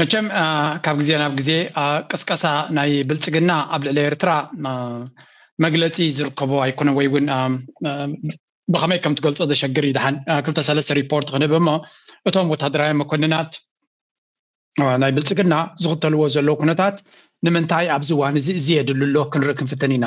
መቸም ካብ ግዜ ናብ ግዜ ቅስቀሳ ናይ ብልፅግና ኣብ ልዕሊ ኤርትራ መግለፂ ዝርከቦ ኣይኮነ ወይ እውን ብከመይ ከም ትገልፆ ዘሸግር እዩ ድሓን ክልተ ሰለስተ ሪፖርት ክንህብ እሞ እቶም ወታደራዊ መኮንናት ናይ ብልፅግና ዝኽተልዎ ዘለዉ ኩነታት ንምንታይ ኣብዚ እዋን እዚ እዚ የድሊ ኣሎ ክንርኢ ክንፍትን ኢና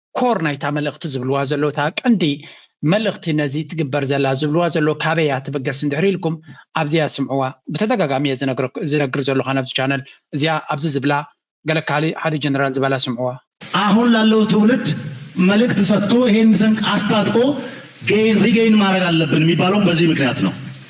ኮር ናይታ መልእኽቲ ዝብልዋ ዘሎ እታ ቀንዲ መልእኽቲ ነዚ ትግበር ዘላ ዝብልዋ ዘሎ ካበይ እያ ትበገስ እንድሕሪ ኢልኩም ኣብዚያ ስምዕዋ ብተደጋጋሚ እየ ዝነግር ዘለኹ ኣብዚ ቻነል እዚኣ ኣብዚ ዝብላ ገለ ካሊ ሓደ ጀነራል ዝበላ ስምዕዋ አሁን ላለው ትውልድ መልእክት ሰጥቶ ይሄን ስንቅ አስታጥቆ ጌይን ሪጌይን ማድረግ አለብን የሚባለውም በዚህ ምክንያት ነው።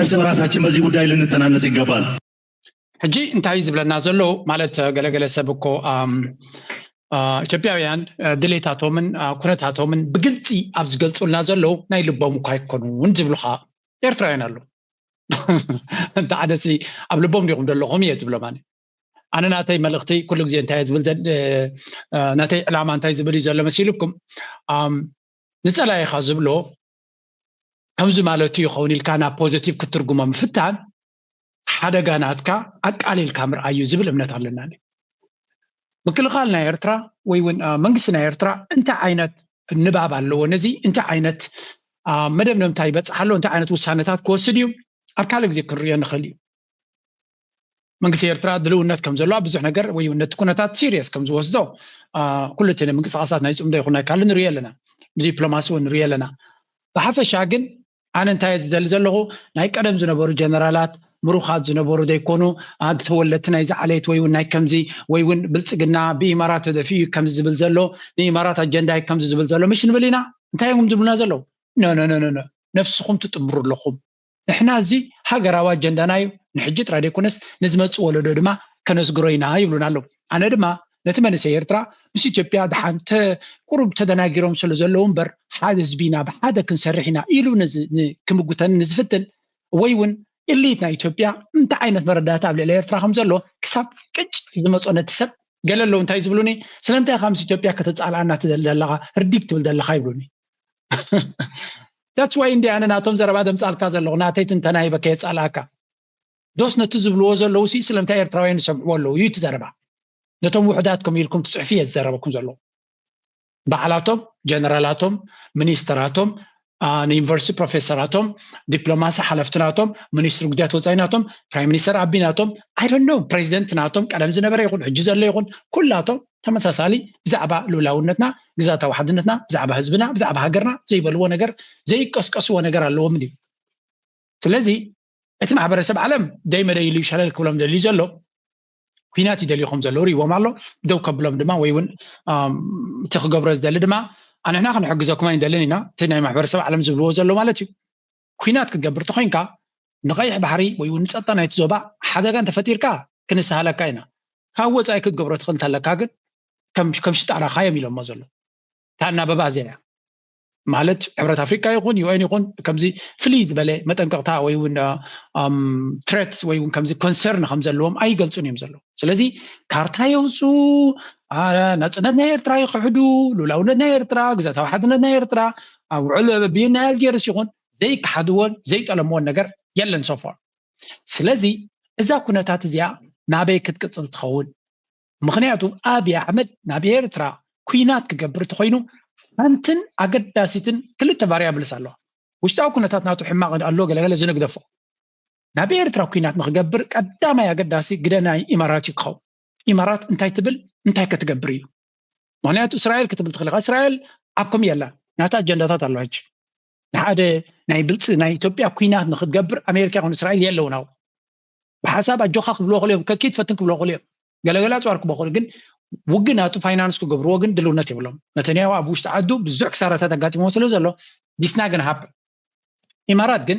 እርስ በራሳችን በዚህ ጉዳይ ልንተናነጽ ይገባል። ሕጂ እንታይ እዩ ዝብለና ዘሎ ማለት ገለገለ ሰብ እኮ ኢትዮጵያውያን ድሌታቶምን ኩነታቶምን ብግልፂ ኣብ ዝገልፁልና ዘለዉ ናይ ልቦም እኳ ኣይኮኑን ዝብሉኻ ኤርትራውያን ኣለዉ እንተ ዓደሲ ኣብ ልቦም ዲኹም ዘለኹም እየ ዝብሎም ኣነ ኣነ ናተይ መልእኽቲ ኩሉ ግዜ እንታይ ዝብል ናተይ ዕላማ እንታይ ዝብል እዩ ዘሎ መሲልኩም ንፀላኢኻ ዝብሎ ከምዚ ማለቱ ይኸውን ኢልካ ናብ ፖዘቲቭ ክትርጉሞ ምፍታን ሓደጋ ናትካ ኣቃሊልካ ምርኣይ እዩ ዝብል እምነት ኣለናኒ ምክልኻል ናይ ኤርትራ ወይ እውን መንግስቲ ናይ ኤርትራ እንታይ ዓይነት ንባብ ኣለዎ ነዚ እንታይ ዓይነት መደምደምታ ይበፅሓ ኣሎ እንታይ ዓይነት ውሳነታት ክወስድ እዩ ኣብ ካልእ ግዜ ክንሪኦ ንኽእል እዩ መንግስቲ ኤርትራ ድልውነት ከም ዘሎ ኣብ ብዙሕ ነገር ወይ ነቲ ኩነታት ሲሪየስ ከም ዝወስዶ ኩሉ እቲ ምንቅስቃሳት ናይ ፅምዶ ይኹን ናይ ካልእ ንሪኦ ኣለና ብዲፕሎማሲ እውን ንሪኦ ኣለና ብሓፈሻ ግን ኣነ እንታይ ዝደሊ ዘለኹ ናይ ቀደም ዝነበሩ ጀነራላት ምሩኻት ዝነበሩ ዘይኮኑ ተወለድቲ ናይዚ ዓሌት ወይ እውን ናይ ከምዚ ወይ እውን ብልፅግና ብኢማራት ተደፊኡ እዩ ከምዚ ዝብል ዘሎ ንኢማራት ኣጀንዳ እዩ ከምዚ ዝብል ዘሎ ምሽ ንብል ኢና እንታይ እዮም ዝብሉና ዘለዉ ነነነነ ነፍስኹም ትጥምሩ ኣለኹም ንሕና እዚ ሃገራዊ ኣጀንዳና እዩ፣ ንሕጂ ጥራይ ዘይኮነስ ንዝመጽእ ወለዶ ድማ ከነስግሮ ኢና ይብሉና ኣለዉ። ኣነ ድማ ነቲ መንእሰይ ኤርትራ ምስ ኢትዮጵያ ደሓን ቁሩብ ተደናጊሮም ስለ ዘለዉ እምበር ሓደ ህዝቢ ኢና ብሓደ ክንሰርሕ ኢና ኢሉ ክምጉተኒ ንዝፍትን ወይ እውን ኢሊት ናይ ኢትዮጵያ እንታይ ዓይነት መረዳእታ ኣብ ልዕሊ ኤርትራ ከም ዘሎ ክሳብ ቅጭ ዝመጾ ነቲ ሰብ ገለ ኣለዉ እንታይ ዝብሉኒ ስለምንታይ ኢኻ ምስ ኢትዮጵያ ከተጻልኣና ትደሊ ዘለኻ ርዲግ ትብል ዘለኻ ይብሉኒ that's why እንዲ ኣነ ናቶም ዘረባ ደምጻልካ ዘለኹ ናተይ ትንተና ይበ ከየጻልኣካ ዶስ ነቲ ዝብልዎ ዘለዉ ሲ ስለምንታይ ኤርትራውያን ይሰምዕዎ ኣለዉ እዩ እቲ ዘረባ ነቶም ውሑዳት ከም ኢልኩም ትጽሕፊ እየ ዝዘረበኩም ዘለዉ በዓላቶም ጀነራላቶም ሚኒስተራቶም ንዩኒቨርሲቲ ፕሮፌሰራቶም ዲፕሎማሲ ሓለፍቲ ናቶም ሚኒስትሪ ጉዳያት ወፃኢ ናቶም ፕራይም ሚኒስተር ኣቢ ናቶም ኣይደኖ ፕሬዚደንት ናቶም ቀደም ዝነበረ ይኹን ሕጂ ዘሎ ይኹን ኩላቶም ተመሳሳሊ ብዛዕባ ሉላውነትና ግዛታዊ ሓድነትና ብዛዕባ ህዝብና ብዛዕባ ሃገርና ዘይበልዎ ነገር ዘይቀስቀስዎ ነገር ኣለዎም ድዩ ስለዚ እቲ ማሕበረሰብ ዓለም ደይመደይ ኢሉ ሸለል ክብሎም ደልዩ ዘሎ ኩናት ይደልዩ ከም ዘለዉ ሪዎም ኣሎ ደው ከብሎም ድማ ወይ እውን እቲ ክገብሮ ዝደሊ ድማ ኣንሕና ክንሕግዘኩም ኣይንደልን ኢና እቲ ናይ ማሕበረሰብ ዓለም ዝብልዎ ዘሎ ማለት እዩ ኲናት ክትገብር ተኾይንካ ንቀይሕ ባሕሪ ወይ ውን ንጸጥታ ናይቲ ዞባ ሓደጋ እንተፈጢርካ ክንሰሃለካ ኢና ካብ ወጻኢ ክትገብሮ ትኽእል እንተለካ ግን ከም ከም ሽጣራ ካዮም ኢሎሞ ዘሎ እታ ኣናበባ እዚኣ እያ ማለት ሕብረት ኣፍሪቃ ይኹን ዩኤን ይኹን ከምዚ ፍልይ ዝበለ መጠንቀቕታ ወይ እውን ትረት ወይ እውን ከምዚ ኮንሰርን ከም ዘለዎም ኣይገልጹን እዮም ዘለዉ ስለዚ ካርታ የውፁ ናፅነት ናይ ኤርትራ ይክሕዱ ሉላውነት ናይ ኤርትራ ግዛታዊ ሓድነት ናይ ኤርትራ ኣብ ውዕል ብይን ናይ ኣልጀርስ ይኹን ዘይከሓድዎን ዘይጠለምዎን ነገር የለን ሶፎር ስለዚ እዛ ኩነታት እዚኣ ናበይ ክትቅፅል ትኸውን ምክንያቱ ኣብይ ኣሕመድ ናብ ኤርትራ ኩናት ክገብር ተኮይኑ ሓንትን ኣገዳሲትን ክልተ ቫሪያብልስ ኣለዋ ውሽጣዊ ኩነታት ናቱ ሕማቕ ኣሎ ገለገለ ዝንግደፎ ናብ ኤርትራ ኩናት ንክገብር ቀዳማይ ኣገዳሲ ግደ ናይ ኢማራት እዩ ክኸውን ኢማራት እንታይ ትብል እንታይ ከትገብር እዩ ምክንያቱ እስራኤል ክትብል ትኽእል ኢኻ እስራኤል ኣብ ኮም የላ ናታ ኣጀንዳታት ኣለዋ ሕጂ ንሓደ ናይ ብልፂ ናይ ኢትዮጵያ ኩናት ንክትገብር ኣሜሪካ ይኹን እስራኤል የለውን ኣብኡ ብሓሳብ ኣጆካ ክብልዎ ክእል እዮም ከኪ ትፈትን ክብልዎ ክእል እዮም ገለገለ ኣፅዋር ክብልዎ ክእል ግን ውግን ኣቱ ፋይናንስ ክገብርዎ ግን ድልውነት የብሎም ነተንያሁ ኣብ ውሽጢ ዓዱ ብዙሕ ክሳራታት ኣጋጢሞ ስለ ዘሎ ዲስና ግን ሃብ ኢማራት ግን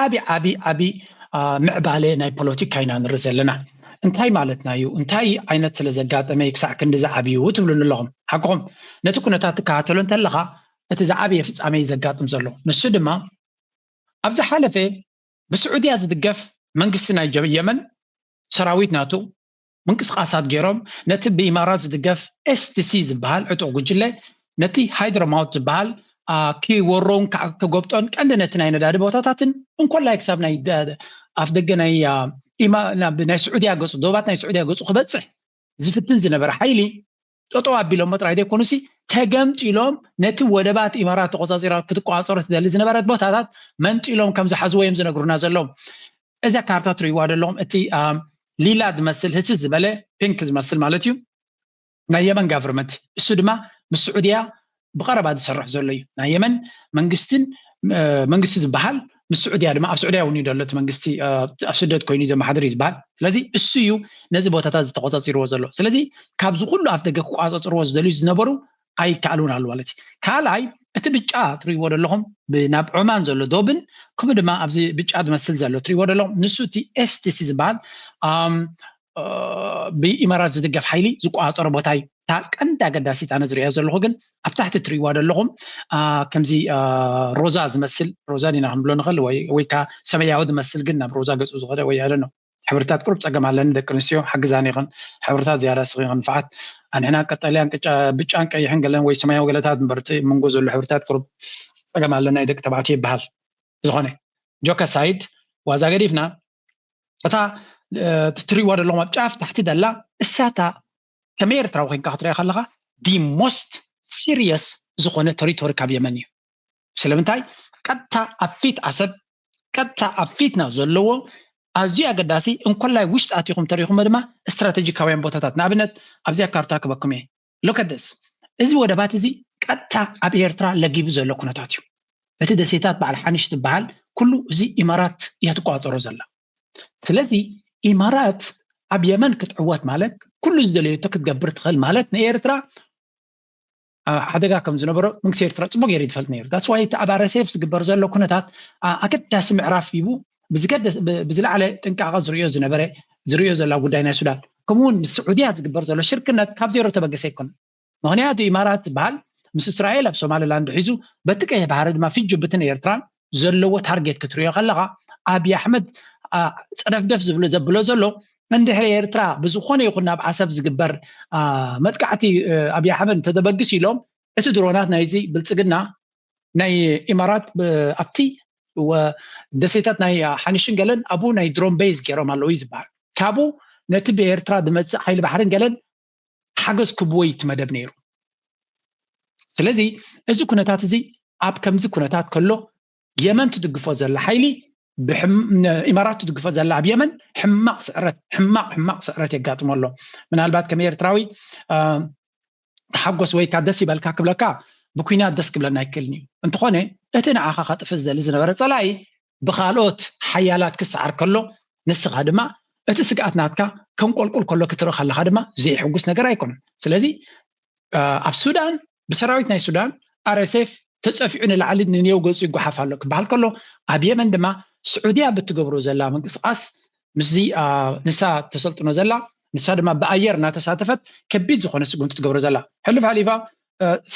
ዓቢ ዓቢ ዓቢ ምዕባለ ናይ ፖለቲካ ኢና ንርኢ ዘለና እንታይ ማለትና እዩ እንታይ ዓይነት ስለ ዘጋጠመ እዩ ክሳዕ ክንዲ ዝዓብዩ ትብሉኒ ኣለኹም ሓቅኹም ነቲ ኩነታት ትከታተሎ እንተለኻ እቲ ዝዓበየ ፍጻሜ ዘጋጥም ዘሎ ንሱ ድማ ኣብ ዝሓለፈ ብስዑድያ ዝድገፍ መንግስቲ ናይ የመን ሰራዊት ናቱ ምንቅስቓሳት ገይሮም ነቲ ብኢማራት ዝድገፍ STC ዝበሃል ዕጡቕ ጉጅለ ነቲ ሃይድሮማውት ዝበሃል ክወሮን ክጎብጦን ቀንዲ ነቲ ናይ ነዳዲ ቦታታትን እንኮላይ ክሳብ ናይ ኣፍ ደገ ናይ ኢማ ናብ ናይ ስዑድያ ገጹ ዶባት ናይ ስዑድያ ገጹ ክበጽሕ ዝፍትን ዝነበረ ሓይሊ ጠጠው ኣቢሎሞ ጥራይ ዘይኮኑሲ ተገምጢሎም ነቲ ወደባት ኢማራት ተቆፃፂራ ክትቆፃፀሮ ትደሊ ዝነበረት ቦታታት መንጢሎም ከም ዝሓዝዎ እዮም ዝነግሩና ዘለዉ እዛ ካርታ ትርእይዋ ዘለኹም እቲ ሊላ ዝመስል ህሲ ዝበለ ፒንክ ዝመስል ማለት እዩ ናይ የመን ጋቨርመንት እሱ ድማ ምስ ስዑድያ ብቐረባ ዝሰርሕ ዘሎ እዩ ናይ የመን መንግስትን መንግስቲ ዝበሃል ምስ ስዑድያ ድማ ኣብ ስዑድያ እውን እዩ ዘሎ እቲ መንግስቲ ኣብ ስደት ኮይኑ ዘመሓድር እዩ ዝበሃል ስለዚ እሱ እዩ ነዚ ቦታታት ዝተቆፃፂርዎ ዘሎ ስለዚ ካብዚ ኩሉ ኣፍ ደገ ክቋፀፅርዎ ዝደልዩ ዝነበሩ ኣይከኣሉን ኣሉ ማለት እዩ ካልኣይ እቲ ብጫ ትሪእዎ ዘለኹም ናብ ዑማን ዘሎ ዶብን ከምኡ ድማ ኣብዚ ብጫ ዝመስል ዘሎ ትሪእዎ ዘለኹም ንሱ እቲ ኤስቲሲ ዝበሃል ብኢማራት ዝድገፍ ሓይሊ ዝቆፃፀሮ ቦታ እዩ እታ ቀንዲ ኣገዳሲት ኣነ ዝሪኦ ዘለኹ ግን ኣብ ታሕቲ ትሪእዋ ዘለኹም ከምዚ ሮዛ ዝመስል ሮዛ ዲና ክንብሎ ንኽእል ወይ ከዓ ሰማያዊ ዝመስል ግን ናብ ሮዛ ገፁ ዝኸደ ወይ ኣለ ነው ሕብርታት ቁሩብ ፀገም ኣለኒ ደቂ ኣንስትዮ ሓግዛኒ ይኽን ሕብርታት ዝያዳ ስኺ ክንፍዓት ኣንሕና ቀጠልያን ብጫን ቀይሕን ገለን ወይ ሰማያዊ ገለታት ምበርቲ መንጎ ዘሎ ሕብርታት ቁሩብ ፀገም ኣለና ደቂ ተባዕትዮ ይበሃል ዝኾነ ጆከ ሳይድ ዋዛ ገዲፍና እታ ትሪእዋ ዘለኹም ኣብ ጫፍ ታሕቲ ዘላ እሳታ ከመይ ኤርትራዊ ኮንካ ክትሪያ ከለኻ ዲ ሞስት ሲሪየስ ዝኾነ ተሪቶሪ ካብ የመን እዩ ስለምንታይ ቀጥታ ኣብ ፊት ዓሰብ ቀጥታ ኣብ ፊትና ዘለዎ ኣዝዩ ኣገዳሲ እንኮላይ ውሽጢ ኣቲኹም ተሪኹሞ ድማ ስትራቴጂካውያን ቦታታት ንኣብነት ኣብዚኣ ካርታ ክበኩም እየ Look at this እዚ ወደባት እዚ ቀጥታ ኣብ ኤርትራ ለጊቡ ዘሎ ኩነታት እዩ እቲ ደሴታት በዓል ሓኒሽ ዝበሃል ኩሉ እዚ ኢማራት እያ ትቆጻጸሮ ዘላ ስለዚ ኢማራት ኣብ የመን ክትዕወት ማለት ኩሉ ዝደለየቶ ክትገብር ትኽእል ማለት ንኤርትራ ሓደጋ ከም ዝነበሮ መንግስቲ ኤርትራ ፅቡቅ ገይሩ ዝፈልጥ ነይሩ ዳስ ዋይ እቲ ኣብ ኣረሴፍ ዝግበር ዘሎ ኩነታት ኣገዳሲ ምዕራፍ ሂቡ ብዝገደስ ብዝለዓለ ጥንቃቐ ዝርእዮ ዝነበረ ዝርእዮ ዘሎ ኣብ ጉዳይ ናይ ሱዳን ከምኡ እውን ምስ ስዑድያ ዝግበር ዘሎ ሽርክነት ካብ ዜሮ ዝተበገሰ ኣይኮነን። ምኽንያቱ ኢማራት ዝበሃል ምስ እስራኤል ኣብ ሶማሊላንድ ሒዙ በቲ ቀይሕ ባሕሪ ድማ ፊት ጅቡትን ኤርትራን ዘለዎ ታርጌት ክትርእዮ ከለኻ ኣብዪ ኣሕመድ ጸደፍደፍ ዝብሎ ዘብሎ ዘሎ እንድሕሪ ኤርትራ ብዝኾነ ይኹን ናብ ዓሰብ ዝግበር መጥቃዕቲ ኣብዪ ኣሕመድ እንተተበግስ ኢሎም እቲ ድሮናት ናይዚ ብልጽግና ናይ ኢማራት ኣብቲ ደሴታት ናይ ሓኒሽን ገለን ኣብኡ ናይ ድሮን ቤዝ ገይሮም ኣለዉ እዩ ዝበሃል ካብኡ ነቲ ብኤርትራ ዝመፅእ ሓይሊ ባሕርን ገለን ሓገዝ ክብዎ እዩ እቲ መደብ ነይሩ ስለዚ እዚ ኩነታት እዚ ኣብ ከምዚ ኩነታት ከሎ የመን ትድግፎ ዘላ ሓይሊ ኢማራት ትድግፎ ዘላ ኣብ የመን ሕማቕ ስዕረት ሕማቕ ሕማቕ ስዕረት የጋጥሞ ኣሎ ምናልባት ከም ኤርትራዊ ተሓጎስ ወይካ ደስ ይበልካ ክብለካ ብኩናት ደስ ክብለና ኣይክእልን እዩ እንተኾነ እቲ ንዓኻ ከጥፍ ዝደሊ ዝነበረ ፀላኢ ብካልኦት ሓያላት ክሰዓር ከሎ ንስኻ ድማ እቲ ስግኣት ናትካ ከም ቆልቁል ከሎ ክትርኢ ከለካ ድማ ዘይሕጉስ ነገር ኣይኮነን ስለዚ ኣብ ሱዳን ብሰራዊት ናይ ሱዳን ኣረሴፍ ተፀፊዑ ንላዕሊ ንኔው ገፁ ይጓሓፍ ኣሎ ክበሃል ከሎ ኣብ የመን ድማ ስዑድያ ብትገብሮ ዘላ ምንቅስቓስ ምስዚ ንሳ ተሰልጥኖ ዘላ ንሳ ድማ ብኣየር እናተሳተፈት ከቢድ ዝኾነ ስጉምቲ ትገብሮ ዘላ ሕልፍ ሓሊፋ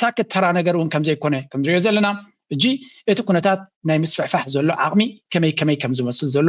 ሳክት ተራ ነገር እውን ከም ዘይኮነ ከም ንሪኦ ዘለና እጂ እቲ ኩነታት ናይ ምስፍሕፋሕ ዘሎ ዓቕሚ ከመይ ከመይ ከም ዝመስል ዘሎ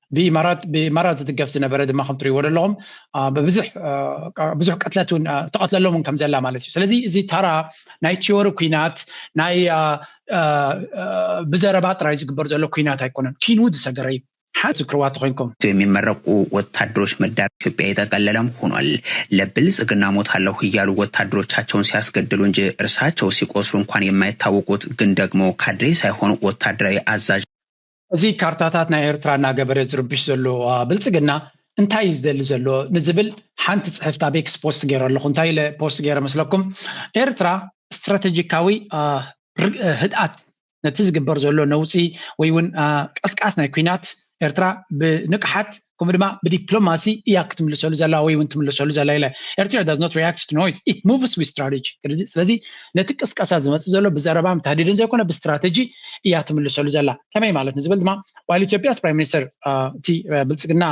ብኢማራት ብኢማራት ዝድገፍ ዝነበረ ድማ ከም ትሪእዎ ዘለኹም ብብዙሕ ብዙሕ ቅትለት እውን ተቐትለሎም እውን ከም ዘላ ማለት እዩ ስለዚ እዚ ታራ ናይ ቲዮሪ ኩናት ናይ ብዘረባ ጥራይ ዝግበር ዘሎ ኩናት ኣይኮነን ኪንውት ዝሰገረ እዩ ሓንቲ ዝክርዋ ተኮይንኩም የሚመረቁ ወታደሮች መዳር ኢትዮጵያ የጠቀለለም ሆኗል። ለብልጽግና ሞታለሁ እያሉ ወታደሮቻቸውን ሲያስገድሉ እንጂ እርሳቸው ሲቆስሉ እንኳን የማይታወቁት ግን ደግሞ ካድሬ ሳይሆን ወታደራዊ አዛዥ እዚ ካርታታት ናይ ኤርትራ እናገበረ ዝርብሽ ዘሎ ብልጽግና እንታይ እዩ ዝደሊ ዘሎ ንዝብል ሓንቲ ጽሕፍቲ ኣብ ኤክስ ፖስት ገይረ ኣለኹ እንታይ ኢለ ፖስት ገይረ መስለኩም ኤርትራ ስትራተጂካዊ ህድኣት ነቲ ዝግበር ዘሎ ነውፂ ወይ እውን ቀስቃስ ናይ ኩናት ኤርትራ ብንቕሓት ከምኡ ድማ ብዲፕሎማሲ እያ ክትምልሰሉ ዘላ ወይ እውን ትምልሰሉ ዘላ ኢለ ኤርትራ ዳዝ ኖት ሪያክት ቱ ኖይዝ ኢት ሙቭስ ዊዝ ስትራቴጂ ስለዚ ነቲ ቅስቀሳ ዝመፅእ ዘሎ ብዘረባን ታህዲድን ዘይኮነ ብስትራቴጂ እያ ትምልሰሉ ዘላ ከመይ ማለት ንዝብል ድማ ዋይል ኢትዮጵያስ ፕራይም ሚኒስተር እቲ ብልፅግና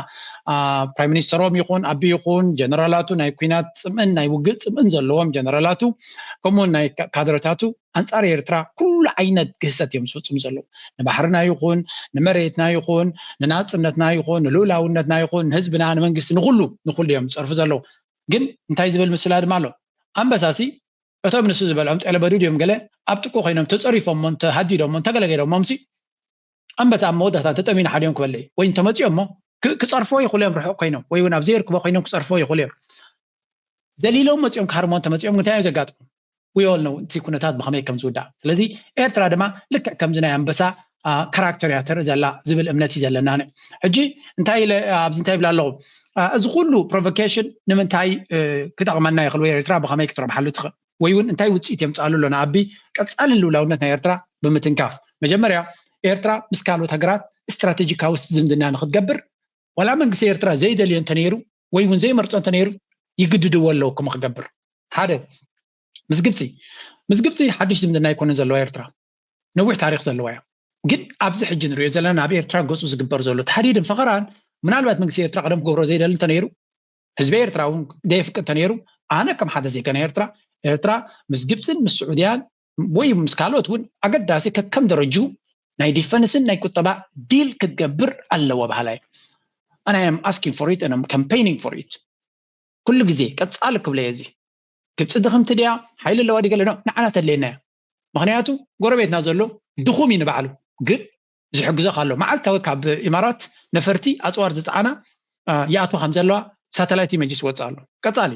ፕራይም ሚኒስተሮም ይኹን ኣቢ ይኹን ጀነራላቱ ናይ ኩናት ፅምእን ናይ ውግእ ፅምእን ዘለዎም ጀነራላቱ ከምኡውን ናይ ካድረታቱ ኣንጻር ኤርትራ ኩሉ ዓይነት ግህሰት እዮም ዝፍጽሙ ዘለዉ። ንባሕርና ይኹን ንመሬትና ይኹን ንናጽነትና ይኹን ንልኡላውነትና ይኹን ንህዝብና ንመንግስቲ ንኹሉ ንኹሉ እዮም ዝጸርፉ ዘለዉ። ግን እንታይ ዝብል ምስላ ድማ ኣሎ ኣንበሳሲ እቶም ንሱ ዝበልዖም ጤለበዱድ እዮም ገለ ኣብ ጥቅኡ ኮይኖም ተጸሪፎሞን ተሃዲዶሞን ተገለገሎሞምሲ ኣንበሳ ኣብ መወዳእታ እንተጠምዩን ሓልዮም ክበልዕ እዩ ወይ እንተመፅኦም እሞ ክፀርፎ ይኽእሉ እዮም ርሑቕ ኮይኖም ወይ እውን ኣብ ዘየርክቦ ኮይኖም ክፀርፎ ይኽእሉ እዮም ዘሊሎም መፅኦም ክሃርሞ እንተመፅኦም እንታይ እዩ ዘጋጥሙ ውዮል ነው እቲ ኩነታት ብኸመይ ከም ዝውዳእ ስለዚ ኤርትራ ድማ ልክዕ ከምዚ ናይ ኣንበሳ ካራክተር እያ ተርኢ ዘላ ዝብል እምነት እዩ ዘለና ሕጂ እንታይ ኢለ ኣብዚ እንታይ ይብላ ኣለኹ እዚ ኩሉ ፕሮቮኬሽን ንምንታይ ክጠቕመና ይኽእል ወይ ኤርትራ ብኸመይ ክትረብሓሉ ትኽእል ወይ ውን እንታይ ውጽኢት የምጽኣሉ ኣሎ ንኣቢ ቀጻሊ ልኡላውነት ናይ ኤርትራ ብምትንካፍ መጀመርያ ኤርትራ ምስ ካልኦት ሃገራት ስትራተጂካዊ ዝምድና ንክትገብር ዋላ መንግስቲ ኤርትራ ዘይደልዮ እንተነይሩ ወይ ውን ዘይመርጾ እንተነይሩ ይግድድዎ ኣለዉ ከምኡ ክገብር ሓደ ምስ ግብፂ ምስ ግብፂ ሓድሽ ዝምድና ኣይኮነን ዘለዋ ኤርትራ ነዊሕ ታሪክ ዘለዋ እያ ግን ኣብዚ ሕጂ ንሪኦ ዘለና ናብ ኤርትራ ገፁ ዝግበር ዘሎ ተሃዲድን ፈኸራን ምናልባት መንግስቲ ኤርትራ ቀደም ክገብሮ ዘይደሊ እንተነይሩ ህዝቢ ኤርትራ እውን ደየፍቅድ ተነይሩ ኣነ ከም ሓደ ዜጋ ናይ ኤርትራ ኤርትራ ምስ ግብፅን ምስ ስዑድያን ወይ ምስ ካልኦት እውን ኣገዳሲ ከከም ደረጁ ናይ ዲፈንስን ናይ ቁጠባ ዲል ክትገብር ኣለዎ ባህላ እዩ ኣነ ኣም ኣስኪንግ ፎር ኢት ኣም ካምፔይኒንግ ፎር ኢት ኩሉ ግዜ ቀፃሊ ክብለ እየ እዚ ግብፂ ድኽምቲ ድያ ሓይሊ ኣለዋ ዲገለ ንዓና ተድልየና እያ ምክንያቱ ጎረቤትና ዘሎ ድኹም እዩ ንባዕሉ ግን ዝሕግዞካ ኣሎ መዓልታዊ ካብ ኢማራት ነፈርቲ ኣፅዋር ዝፀዓና ይኣትዋ ከም ዘለዋ ሳተላይት ኢመጅስ ዝወፅእ ኣሎ ቀፃሊ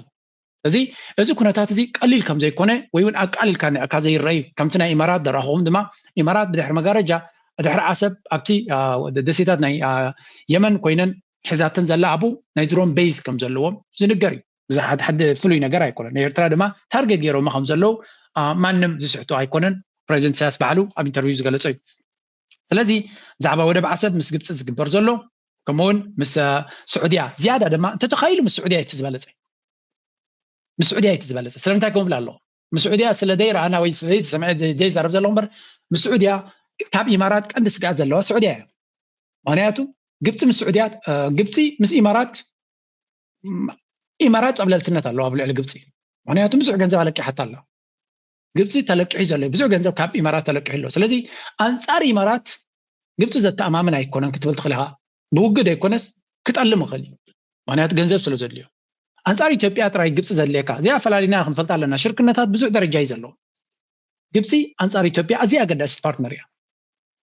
እዚ እዚ ኩነታት እዚ ቀሊል ከም ዘይኮነ ወይ እውን ኣቃሊልካ እካ ዘይረኣዩ ከምቲ ናይ ኢማራት ደራኹም ድማ ኢማራት ብድሕሪ መጋረጃ ድሕሪ ዓሰብ ኣብቲ ደሴታት ናይ የመን ኮይነን ሒዛተን ዘላ ኣብኡ ናይ ድሮን ቤዝ ከም ዘለዎም ዝንገር እዩ ብዛሓት ሓደ ፍሉይ ነገር ኣይኮነን ንኤርትራ ድማ ታርጌት ገይሮማ ከም ዘለዉ ማንም ዝስሕቶ ኣይኮነን ፕሬዚደንት ኢሳያስ ባዕሉ ኣብ ኢንተርቪው ዝገለጾ እዩ ስለዚ ብዛዕባ ወደብ ዓሰብ ምስ ግብፂ ዝግበር ዘሎ ከምኡውን ምስ ስዑድያ ዝያዳ ድማ እንተተኻኢሉ ምስ ስዑድያ እቲ ዝበለፀ ምስ ስዑድያ እቲ ዝበለፀ ስለምንታይ ከምብላ ኣለኹ ምስ ስዑድያ ስለ ዘይረኣና ወይ ስለ ዘይተሰምዐ ዘይዛረብ ዘለኹ እምበር ምስ ስዑድያ ካብ ኢማራት ቀንዲ ስግኣት ዘለዋ ስዑድያ እያ ምክንያቱ ግብፂ ምስ ስዑድያ ግብፂ ምስ ኢማራት ኢማራት ፀብለልትነት ኣለዋ ኣብ ልዕሊ ግብፂ ምክንያቱ ብዙሕ ገንዘብ ኣለቂሓታ ኣላ ግብፂ ተለቂሑ ዘሎ ብዙሕ ገንዘብ ካብ ኢማራት ተለቂሑ ኣሎ ስለዚ ኣንፃር ኢማራት ግብፂ ዘተኣማምን ኣይኮነን ክትብል ትኽእል ኢኻ ብውግድ ኣይኮነስ ክጠልም ይኽእል እዩ ምክንያቱ ገንዘብ ስለ ዘድልዮ ኣንፃር ኢትዮጵያ ጥራይ ግብፂ ዘድልየካ እዚኣ ፈላሊና ክንፈልጣ ኣለና ሽርክነታት ብዙሕ ደረጃ እዩ ዘለዎ ግብፂ ኣንፃር ኢትዮጵያ ኣዝያ ኣገዳሲት ፓርትነር እያ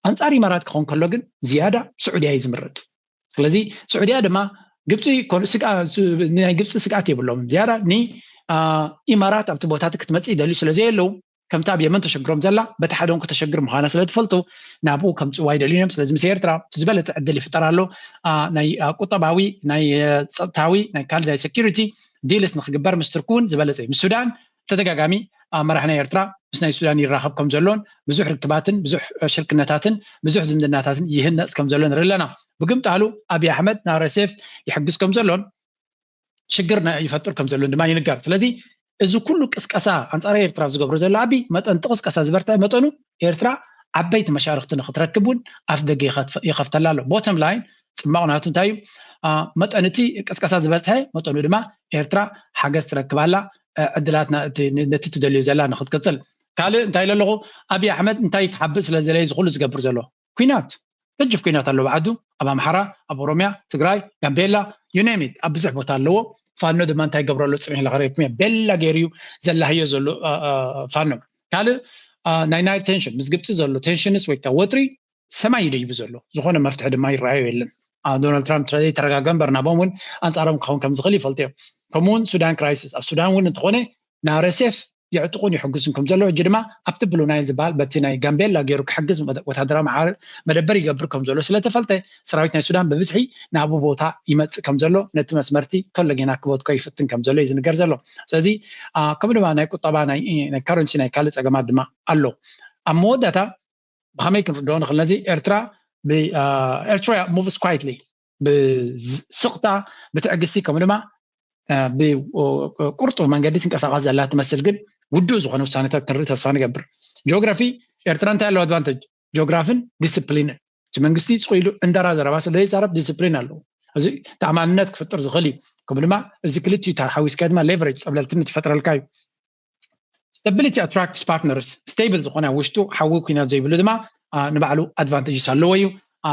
ኣንጻር ኢማራት ክኾን ከሎ ግን ዝያዳ ስዑድያ እዩ ዝምረጽ ስለዚ ስዑድያ ድማ ግብፂ ናይ ግብፂ ስግኣት የብሎም ዝያዳ ንኢማራት ኣብቲ ቦታት ክትመፅእ ይደልዩ ስለ ዘየለዉ ከምቲ ኣብ የመን ተሸግሮም ዘላ በቲ ሓደ እውን ከተሸግር ምዃና ስለ ትፈልጡ ናብኡ ከምፅዋ ይደልዩን እዮም ስለዚ ምስ ኤርትራ ዝበለፀ ዕድል ይፍጠር ኣሎ ናይ ቁጠባዊ ናይ ፀጥታዊ ናይ ካልእ ናይ ሴኪሪቲ ዲልስ ንክግበር ምስ ትርኪ እውን ዝበለፀ እዩ ምስ ሱዳን ብተደጋጋሚ ኣመራሕና ኤርትራ ምስ ናይ ሱዳን ይራኸብ ከም ዘሎን ብዙሕ ርክባትን ብዙሕ ሽርክነታትን ብዙሕ ዝምድናታትን ይህነጽ ከም ዘሎ ንርኢ ኣለና። ብግምጣሉ ኣቢይ ኣሕመድ ንኣርኤስኤፍ ይሕግዝ ከም ዘሎን ሽግር ይፈጥር ከም ዘሎን ድማ ይንገር። ስለዚ እዚ ኩሉ ቅስቀሳ ኣንጻር ኤርትራ ዝገብሮ ዘሎ ኣቢይ መጠን እቲ ቅስቀሳ ዝበርትዐ መጠኑ ኤርትራ ዓበይቲ መሻርክቲ ንክትረክብ እውን ኣፍደገ ይኸፍተላ ኣሎ ቦተም ላይን ፅማቕ ናቱ እንታይ እዩ መጠን እቲ ቅስቀሳ ዝበዝሐ መጠኑ ድማ ኤርትራ ሓገዝ ትረክብ ኣላ ዕድላት ነቲ ትደልዮ ዘላ ንክትቅፅል ካልእ እንታይ ኢለ ኣለኹ ኣብዪ ኣሕመድ እንታይ ክሓብእ ስለ ዝደለየ ዝኩሉ ዝገብር ዘሎ ኩናት ገጅፍ ኩናት ኣሎ ኣብ ዓዱ ኣብ ኣምሓራ ኣብ ኦሮምያ ትግራይ ጋምቤላ you name it ኣብ ብዙሕ ቦታ ኣለዎ ፋኖ ድማ እንታይ ይገብሮ ኣሎ ፅኒሕ ኢለ ክረክም እየ ቤላ ገይሩ እዩ ዘላህዮ ዘሎ አ፣ አ፣ ፋኖ ካልእ አ፣ ናይ ናይል ቴንሽን ምስ ግብፂ ዘሎ ቴንሽንስ ወይ ከዓ ወጥሪ ሰማይ ይደይቡ ዘሎ ዝኾነ መፍትሒ ድማ ይረኣዮ የለን አ፣ ዶናልድ ትራምፕ ስለዘይ ተረጋገ እምበር ናቦም እውን ኣንፃሮም ክኸውን ከም ዝኽእል ይፈልጡ እዮም ከምኡውን ሱዳን ክራይሲስ ኣብ ሱዳን እውን እንተኾነ ናረሴፍ የዕጥቁን ይሕግዙን ከምዘለዉ ሕጂ ድማ ኣብቲ ብሉ ናይል ዝበሃል በቲ ናይ ጋምቤላ ገይሩ ክሕግዝ ወተሃደራዊ መዓር መደበር ይገብር ከምዘሎ ስለተፈልጠ ሰራዊት ናይ ሱዳን ብብዝሒ ናብኡ ቦታ ይመጽእ ከምዘሎ ነቲ መስመርቲ ከሎ ጌና ክበትኮ ይፍትን ከምዘሎ እዩ ዝንገር ዘሎ ስለዚ ከምኡ ድማ ናይ ቁጠባ ናይ ካረንሲ ናይ ካልእ ጸገማት ድማ ኣሎ ኣብ መወዳእታ ብኸመይ ክንርድኦ ንኽእል ነዚ ኤርትራ ኤርትራ ሙቭስ ኳይትሊ ብስቕታ ብትዕግስቲ ከምኡ ድማ ብቁርጡፍ መንገዲ ትንቀሳቐስ ዘላ ትመስል ግን ውዱእ ዝኾነ ውሳነታት ትርኢ ተስፋ ንገብር ጂኦግራፊ ኤርትራ እንታይ ኣለዎ ኣድቫንተጅ ጂኦግራፍን ዲስፕሊንን እቲ መንግስቲ ፅኢሉ እንደራ ዘረባ ስለ ዘይዛረብ ዲስፕሊን ኣለዎ እዚ ተኣማንነት ክፍጥር ዝኽእል እዩ ከምኡ ድማ እዚ ክልቲኡ ሓዊስካ ድማ ሌቨሬጅ ፀብለልትነት ይፈጥረልካ እዩ Stability attracts partners stable ዝኾነ ኣብ ውሽጡ ሓዊ ኩናት ዘይብሉ ድማ ንባዕሉ ኣድቫንቴጅስ ኣለዎ እዩ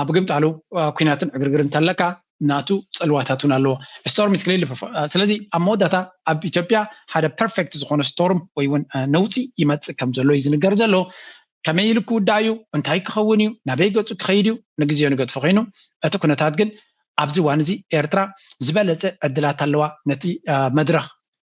ብግምጣሉ ኩናትን ዕግርግር እንተለካ ናቱ ፅልዋታት እውን ኣለዎ ስቶርም ኢስ ክሊርሊ ስለዚ ኣብ መወዳእታ ኣብ ኢትዮጵያ ሓደ ፐርፌክት ዝኾነ ስቶርም ወይ እውን ነውፂ ይመፅእ ከም ዘሎ እዩ ዝንገር ዘሎ ከመይ ኢሉ ክውዳእ እዩ እንታይ ክኸውን እዩ ናበይ ገፁ ክኸይድ እዩ ንግዜዮ ንገድፎ ኮይኑ እቲ ኩነታት ግን ኣብዚ እዋን እዚ ኤርትራ ዝበለፀ ዕድላት ኣለዋ ነቲ መድረኽ